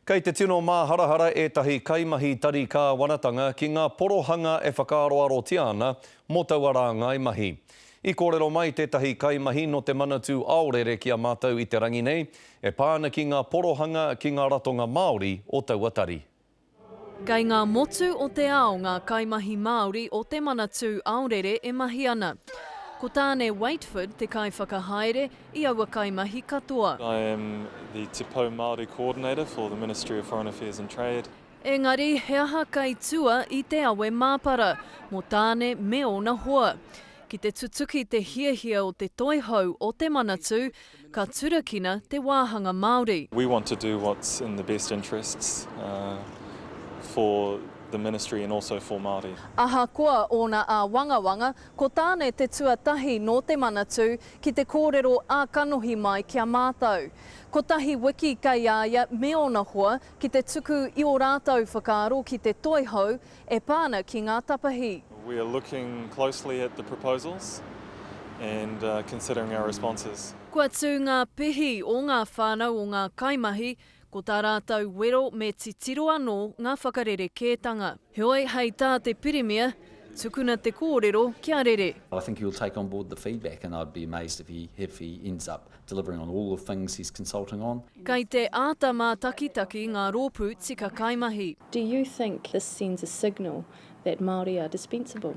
Kei te tino māharahara ētahi kaimahi tari kāwanatanga ki ngā porohanga e whakaaroarotia ana mō taua rāngai mahi. I kōrero mai tētahi kaimahi nō te Manatū Aorere ki a mātou i te rangi nei, e pā ana ki ngā porohanga ki ngā ratonga Māori o taua tari. Kei ngā motu o te ao ngā kaimahi Māori o te Manatū Aorere e mahi ana. Ko Tāne Waitford te kaiwhakahaere, i aua kaimahi katoa. I am the Te Pou Māori Coordinator for the Ministry of Foreign Affairs and Trade. Engari, he aha kei tua i te awe māpara mō Tāne me ōna hoa? Ki te tutuki te hiahia o te Toihau o te Manatū, ka turakina te wāhanga Māori. We want to do what's in the best interests for the Ministry and also for Māori. Ahakoa ōna āwangawanga, Ko Tāne te tuatahi nō te Manatū ki te kōrero ā kanohi mai ki a mātou. Kotahi wiki kei a ia me ōna hoa ki te tuku i ō rātou whakaaro ki te toi hou e pā ana ki ngā tapahi. We are looking closely at the proposals and considering our responses. Kua tū ngā pihi o ngā whānau o ngā kaimahi Ko tā rātou wero me titiro anō ngā whakarerekētanga. Heoi, hei tā te Pirimia, tukuna te kōrero kia rere. I think he will take on board the feedback and I'd be amazed if he if he ends up delivering on all the things he's consulting on. Kei te āta mātakitaki ngā rōpū tika kaimahi. Do you think this sends a signal that Māori are dispensable?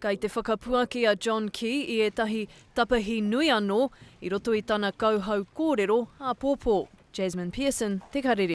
Kei te whakapuaki a John Key i ētahi tapahi nui anō i roto i tana kauhau kōrero āpōpō. Jasmine Pearson, Te Karere.